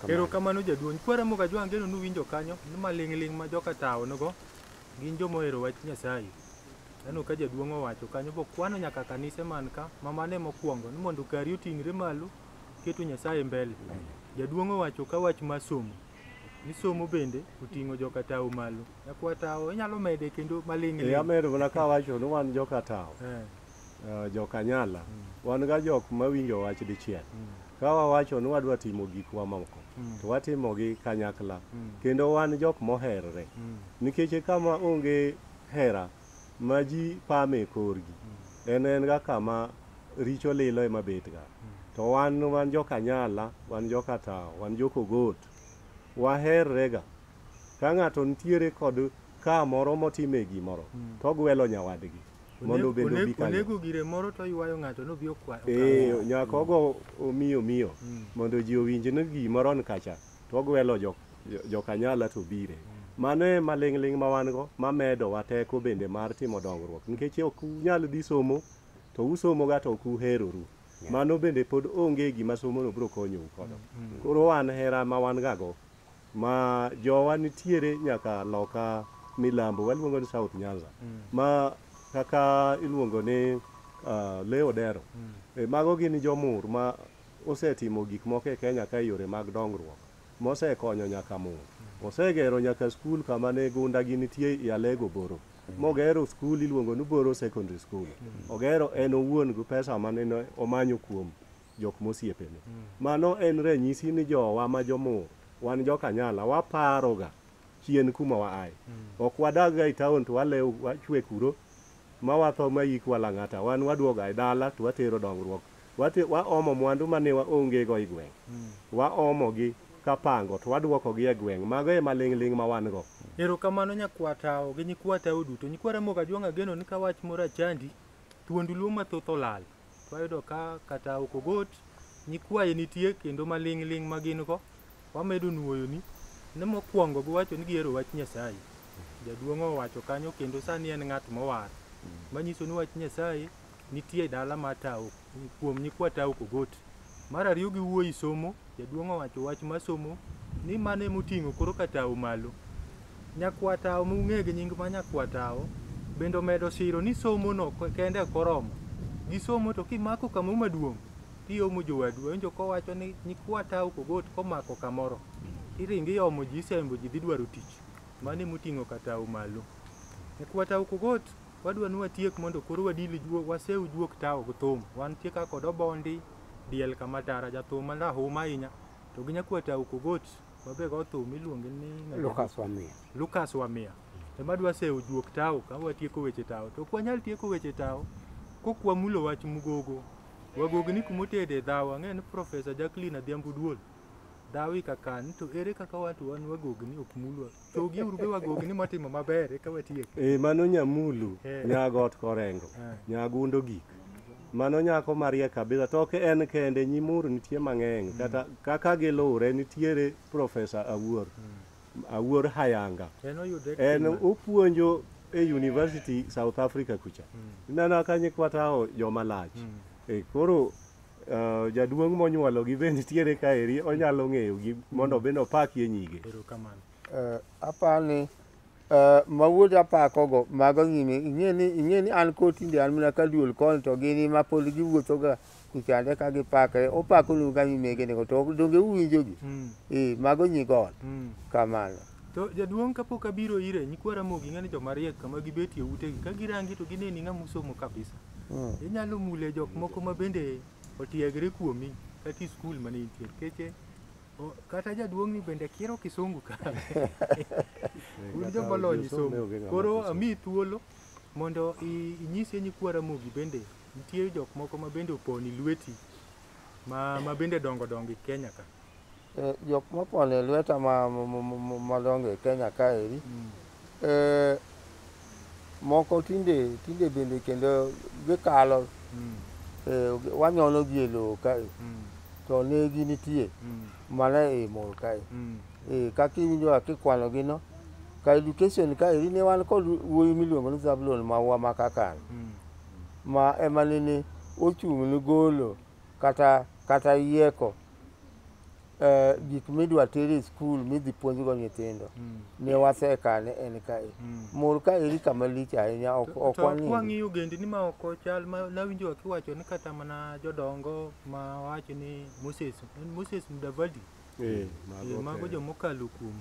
Erokamano jaduong'. Kwara moga jwang' geno nuwinjo kanyo ni maling'ling' ma joka tawo nogo gin joma ohero wach Nyasaye. Aneno ka jaduong' owacho kanyo bokwano nyaka kanise man ka ma mano ema okwongo ni mondo kari oting're malo keto Nyasaye mbele. Jaduong' owacho ka wach mar somo misomo bende oting'o joka tao malo nyakwa tao inyalo mede kendo maling' e amedo mana ka wacho ni wan joka tao eh. eh, joka nyala mm. wan ga jok mawinjo wach dichiel mm. ka wawacho ni wadwa timo gik wa moko mm. to watimo gi kanyakla kendo wan jok moherre nikech kama onge hera ma ji pame e korgi en en ga kama richo lilo ema betga to wan wan jokanyala wan jokatawo wan jokogot waherrega ka ng'ato nitiere kod ka moro motime gimoro to ogwelo nyawadgi mondo obed Onego- obi kanyo onego gire moro to oywayo ng'ato nobi okwa ee nyaka ogo omiyo miyo mondo ji owinj ni gimoro ni kacha to ogwelo jo, jo, jokanyala to bire mano e maling'ling' ma wan go mamedowa teko bende mar timo dongruok nikech ok unyal dhi somo to usomoga to ok uheroru mano bende pod onge gima somono biro konyou kodo koro wan hera ma wan gago ma jowa nitiere nyaka loka milambo waluongo ni south nyanza ma kaka iluongo ni uh, leo dero e, mago gin jomur ma Osetimo gik moko e Kenya ka e yore mag dongruok mosekonyo nyaka mon. Osegero nyaka skul kama ne gunda gi nitie i Alego Boro. Mogero skul iluongo ni Boro Secondary School. Ogero en owuon gi pesa mane ne omanyo kuom jok mosiepene. Mano en ranyisi ni jowa ma jomur wan jokanyala waparoga chien kuma waaye. Ok wadagga e taon to walewo wachwe kuro ma watho ma yikwa Lang'ata, wan waduoga e dala to watero dongruok. Wate, waomo mwandu ma ne waongego e gweng'. Waomogi ka pango to waduokogi e gweng'. Mago e maling'ling' ma wan go. Erokamano nyakwa Tao gi nyikwa Tao duto. Nyikwa Ramogi Ajwang' ageno ni ka wach moro achandi, thuondu Luo mathoth olal. Wayudo ka kata ok ogot nyikwaye nitie kendo maling' ling' ma gin go wamedo nuoyoni ni mokwongo giwacho ni gihero wach Nyasaye. Jaduong' owacho kanyo kendo sani en ng'at mowar manyiso ni wach Nyasaye nitie e dala mar Tao kuom nyikwa Tao Okogoti. Mar ariyo gi wuoyi somo, jaduong' owacho wach ma somo ni mano ema oting'o koro ka tawo malo. Nyakwa tawo ma ung'e gi nying ma nyakwa tawo bende omedo siro ni somo no kende ok oromo. Gi somo to kimako kamoro maduong' to iomo jowadu. Awinjo ka owacho ni nyikwa tawo ka ogot ka omako kamoro to iringo iomo ji isembo ji dhi dwaro tich. Mano ema oting'o ka tawo malo. Nyakwa tawo ka ogot. Wadwa ni watiek mondo koro wadil juo, wasew juok tawo gi thum. Wantie ka kod obondi, diel kama tara, jathum ma rahuma ahinya. To gi nyakwata ukogot, babe go thum iluonge ni Lucas Wamia. Lucas Wamia. Ema dwa sew juok tawo ka watieko weche tawo. To ok wanyal tieko weche tawo kok wamulo wach mugogo. Wagogo ni kumotede dhawo ang'e ni Profesa Jacqueline Adhiambo Duol. Dhawi kakan to ere kaka watu wan wagogni ok mulwa. Chogi uru be wagogi ni motimo maber eka watiek. Eh, mano nyamulu Eh. nyago ot korengo Eh. nyago undo gik mano nyako mariek kabisa to ok en kende nyimuru nitie mang'eny kata kaka giluwre nitiere profesa awuor awuor hayanga En oyudre en kima. opuonjo e university south africa kucha ineno ka nyikwatao joma lach E, koro uh, jaduong' monyuologi be nitiere ka eri onyalo ng'eyogi mondo be nopakie nyige erokamano uh, apani uh, ma wuod apakogo mago nyime ing'eni ing'eni an kotinde an mana ka duol koni to gini ma pod giwuothoga kuchande ka gipakre opakonuga nyimegenego to donge uwinjogi mm. e, mago nyigon mm. kamano To jaduong' kapok abiro ire, nyikwa Ramogi ing'e ni joma riek kama gibetie utegi, ka girangi to gineni ng'ama osomo kabisa. Mm. Inyalo mule jok moko ma bende otiegre kuomi kata i skul mane intie. Keche o- kata jaduong' ni bende kiero kisungu ka. Un joma olony somo. Koro ami thuolo mondo i- inyise nyikwa Ramogi bende nitie jok moko ma bende oponi lweti ma, ma bende dongo dongo e Kenya ka. Eh, jok mopon e lweta madongo e Kenya kaeri mm. eh, moko tinde tinde bende kendo gikalo mm. eh, wanyono gi e lowo kae mm. to negi nitie mana e mor kae kaka iwinjo kaka ikwanogi no ka education kaeri ne wan kod wuoyi miluongo ni Zablon mawa ma Kakan ma ema nene ochung' ne golo kata kata yieko eh, gik midwa ter e skul midhi puonjgo nyithindo mm. ne wasekane en kae mm. mor ka eri kama lich ahinya ok ok wang'eyo wang'iyo gendi ni ma ok chal ma nawinjo kiwacho ni kata mana jodongo ma wacho ni Moses en Moses Mudavadi eh, eh mago jo mokalo kuom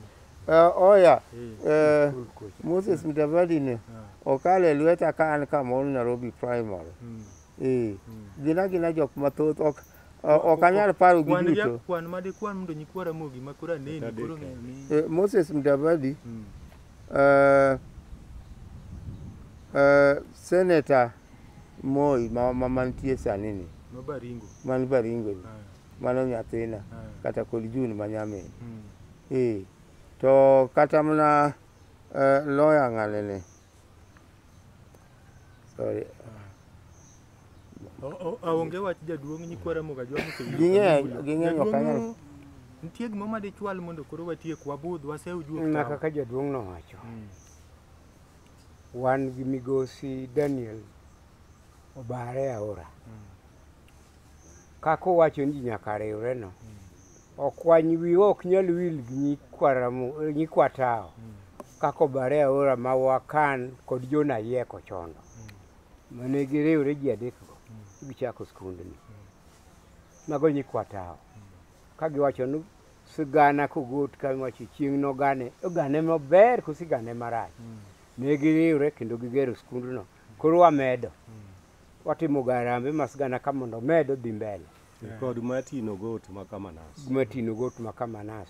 Uh, oya uh, Moses Mudavadi ne ah. okale lweta ka an kamoro Nairobi primary mm. Eh, gin agina jok mathoth ok ok anyal paro gi Kwan ja- duto. Kwan ma dikwan mondo nyikwa Ramogi ma koro aneni Adek. koro ng'eyo ni Eh, Moses Mudavadi, Mm. eh, eh, Senator Moi ma ma mantie sani ni, ma Baringo. man Baringo ni, Ah, mano nyathina ah, kata kod June ma nyamin. mm. Eh, to kata mana eh, lawyer ng'ane ni Sorry. O- o- Aonge wach jaduong' nyikwa Ramogi Ajwa mosewinjo Ging'eny, Kabungu. ging'eny ok anyal. Jaduong', Nitie gima ma dichwal mondo koro watiek wabudh wasew juok Na tawa. kaka jaduong' nowacho. Wan gi migosi Daniel obare aora. Kaka owacho ni ji nyaka riwre no. Okwany wiwa ok nyal wil gi nyikwa tawo kaka obare aora ma wakan kod Jona Ayieko chondo mane giriwre ji adekgo gichako skundni. Mago nyikwa tawo ka giwacho ni sigana kogot ka wacho chieng' nogane ogane maber koso igane marach. Ne giriwre kendo gigero skundno koro wamedo watimo ga harambee ma sigana ka mondo omed odhi mbele. kod matino got ma kamanas matino got ma kamanas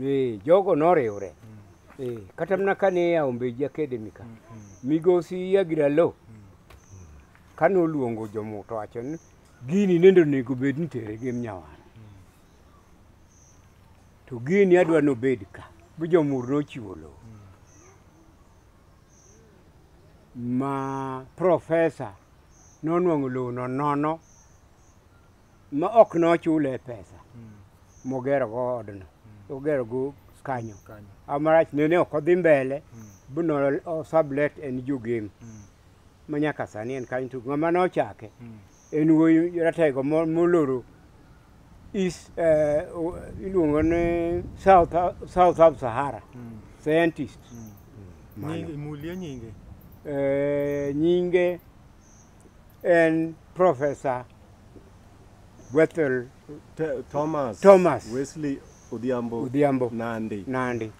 eh, jogo noriwre eh, kata mana kane ya ombeji academy ka migosi yagiralo kane oluongo jomuto wacho ni gini nende onego bed ni tere gi mnyawar to gini adwa nobed ka bi jomur nochiwo lowo ma profesa nonwang'o lowo no nono ma ok nochule pesa mm. mogero go odno mm. ogero go kanyo amarach nene ok odhi mbele mm. buno osablet en jugim mm. ma nyaka sani en kanyo to ng'ama nochake mm. en wuoyi ratego moloro east eh, iluongo ni south south of sahara mm. scientist mm. mm. mano imulie nyinge eh, nyinge en Profesa Wethel Te- Thomas, Thomas. Wesley Odhiambo, Odhiambo. Nandi. Nandi.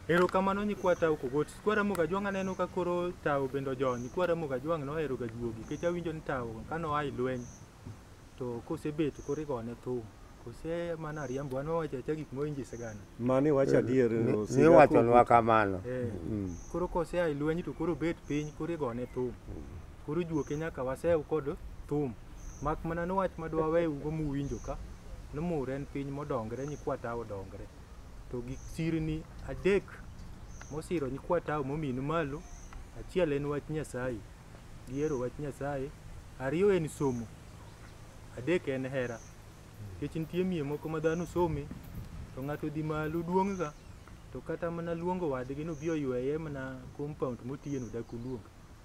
Erokamano nyikwa tao kogot. Nyikwa Ramogi Ajwang' aneno ka koro tao bende ojony. Nyikwa Ramogi Ajwang' noheroga juogi nikech awinjo ni tao kane oa e lweny To kosebet koro igone thum. Kose mana riambo an wawacho acha gik moinji sigana. Mano iwacho adier. Ni- osiga Niwachonwa kamano. Eh. Mm. Koro kose ai lweny to koro bet piny koro igone thum. Koro juoke nyaka wasew kod thum. Mak mana ni wach madwa weyugo muwinjo ka. Ni mur en piny modongre nyikwa ta odongre. To gik sirni adek mosiro nyikwa ta mominu malo. Achiel en wach Nyasaye. gihero wach Nyasaye, ariyo en somo, adek en hera. Nikech nitie mier moko ma dhano some to ng'ato dhi malo duong'ga to kata mana luongo wadgi nobi oyweye mana compound motiye no dak oluong.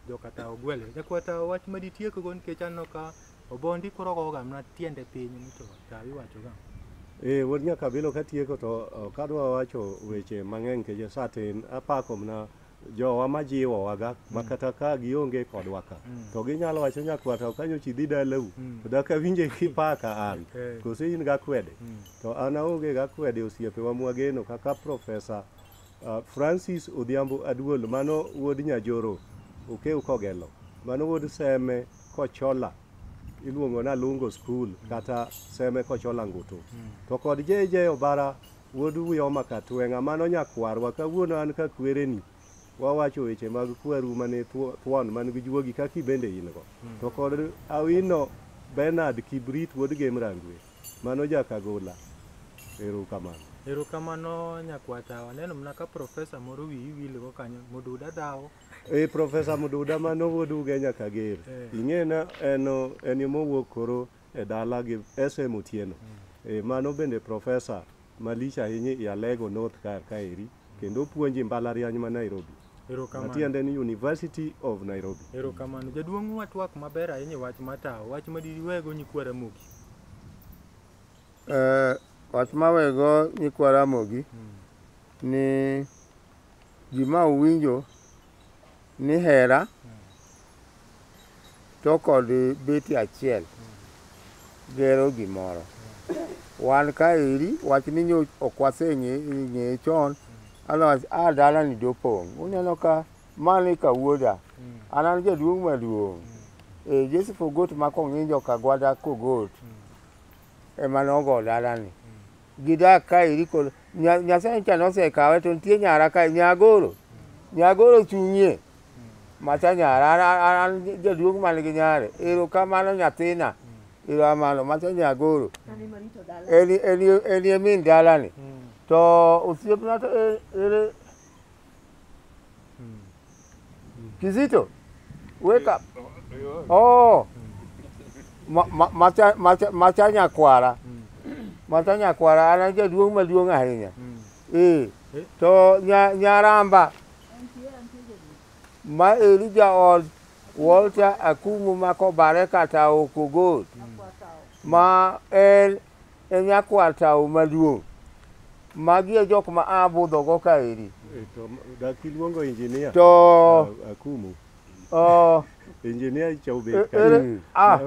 Joka tawo gwele. Jakwa tawo wach ma ditiekgo nikech aneno ka obondi koro ogoga mana tiende piny ni to tawo iwachoga. Eh, wuod nyakabilo katieko to ok adwa wacho weche mang'eny nikech sa tin. Apako mana jowa ma jiwowaga ma kata ka gionge kodwa ka to ginyalo wacho nyakwata ok anyochi dhi dalau to dak awinje kipaka an Eh. koso in gakwede to an aonge gakwede osiepewa mwageno kaka profesa uh, francis odhiambo aduol mano wuod nyajoro okew kogelo mano wuod seme kochola iluongo na lungo school kata seme kochola ngutu to kod jeje obara Wuod Uyoma Katweng'a, mano nyakwarwa, kawuono an ka kwereni wawacho weche mag kweru mane thuon man gi juogi kaki bende in go hmm. to kod awino Bernard Kibrit wuod Gem Rangwe mano jakagola erokamano erokamano nyakwata waneno mna ka profesa moro wiyi wilgo kanyo mududa dhawo e eh, profesa mududa mano wuod uge nyakager eh. ing'ena en en mowuok koro e dala gi SM Otieno. E, mano bende profesa malich ahinya i Alego North kar kaeri kendo puonji mbalariany ma Nairobi. Erokamano. Matiende ni University of Nairobi. Erokamano. Jaduong' watwak maber ahinya e wach matawo. Wach ma diwego nyikwa Ramogi. Eh, wach mawego nyikwa Ramogi ni Gima uwinjo ni hera to kod beti achiel gero gimoro. Wan kaeri wach ni nyo ok waseng'eye chon otherwise a dalani dopong'. Uneno ka mano eka wuoda, an an jaduong' maduong'. E Joseph Ogot ma Kong'injo Kagwada Kogot ema nogo dalani. Gidak ka eri kod Nyasaye cha nosekawe to nitie nyara ka Nyagoro. Nyagoro chung'ie. Macha nyara an jaduong' man gi nyare. Erokamano nyathina. Erokamano macha Nyagoro. Eri eri eri e min dalani. To osiepna to ere Kizito, wake up. Oh. Ma- ma- Macha macha macha nyakwara. Macha nyakwara ana jaduong' maduong' ahinya. Eh. To nya nyaramba ma Elija od Walter Akumu mako bare kata okogol. Ma en e nyakwar tawo maduong'. Magi e jok ma a budhogo kaeri. Eh, to dak iluongo injinia to akumu oh, injinia icha obet e, ere, mm. ah.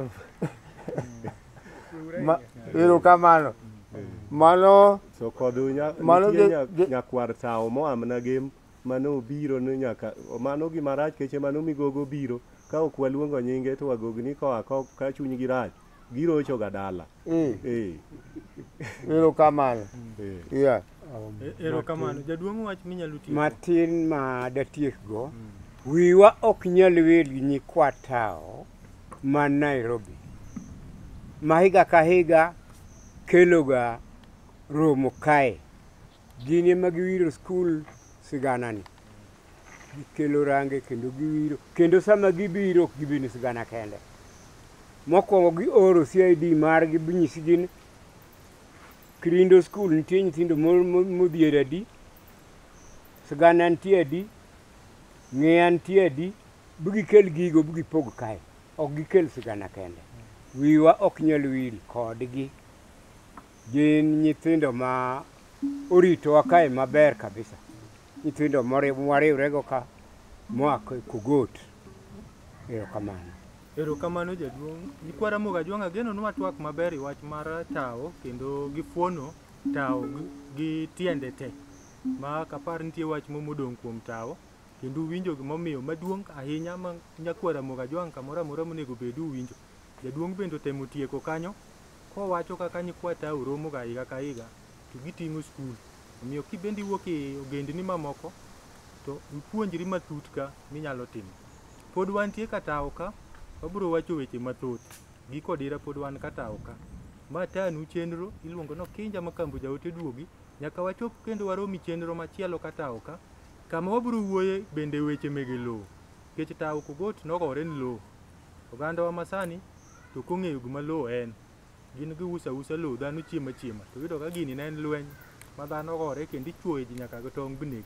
Ma, ero kamano mm. mano so kod nyakwar tawo moamna gem mano obiro ni nyaka mano gima rach keche mano migogo obiro ka ok waluongo nyinge to wagogni koa ko- ka chunygi rach girocho ga dala Eh, eh, erokamano. eh. Yeah. erokamano jaduong' wach minyalo tiyo matin ma datiekgo wiwa ok nyal wil gi nyikwa tawo ma nairobi ma higa ka higa keloga romo kae Gin ema giwiro skul siganani. Gikelo range kendo giwiro. Kendo sama gibiro ok gibi ni sigana kende. Mokwongo gioro CID margi binyisi gin Kirindo skul nitie nyithindo modhier adi, sigana nitie adi, ng'eya nitie adi, bigikel gigo bigipog kae. Ok gikel sigana kende. Wiwa ok nyal wil kodgi. Gin nyithindo ma oritowa kae maber kabisa. Nyithindo mwariwrego ka moa Kugot. Erokamano. Erokamano jaduong'. Nyikwa Ramogi Ajwang' ageno nwa twak maber e wach mar tawo kendo gi fuono tawo gi tiende te. Ma ok apar nitie wach moro modong' kuom tawo kendo uwinjo gimomiyo maduong' ahinya ma nyakwa Ramogi Ajwang' kamoro amora monego bed uwinjo. Jaduong' bende otemo tieko kanyo kowacho kaka nyikwa Tau romoga higa ka higa to giting'o skul. Omiyo kibende iwuok e ogendni mamoko to ipuonjri matut ka minyalo timo. Pod wantie ka Tau ka, wabiro wacho weche mathoth. Giko dira pod wan ka Tau ka. Ma Tanu chenro iluongo ni Okinja ma Kambo Jaote Duogi. Nyaka wachop kendo warom e chenro machielo ka Tau ka. Kama wabiro wuoye bende weche mege lowo. Nikech Tau Kugot nogore ni lowo. Ogandawa masani to ok ong'eyo gima lowo en. Gin giuso ausa lowo, dhano chiemo achiema. To iyudo ka gini ne en lweny ma dhano gore kendo ichuoyo ji nyaka gi tong' bineg.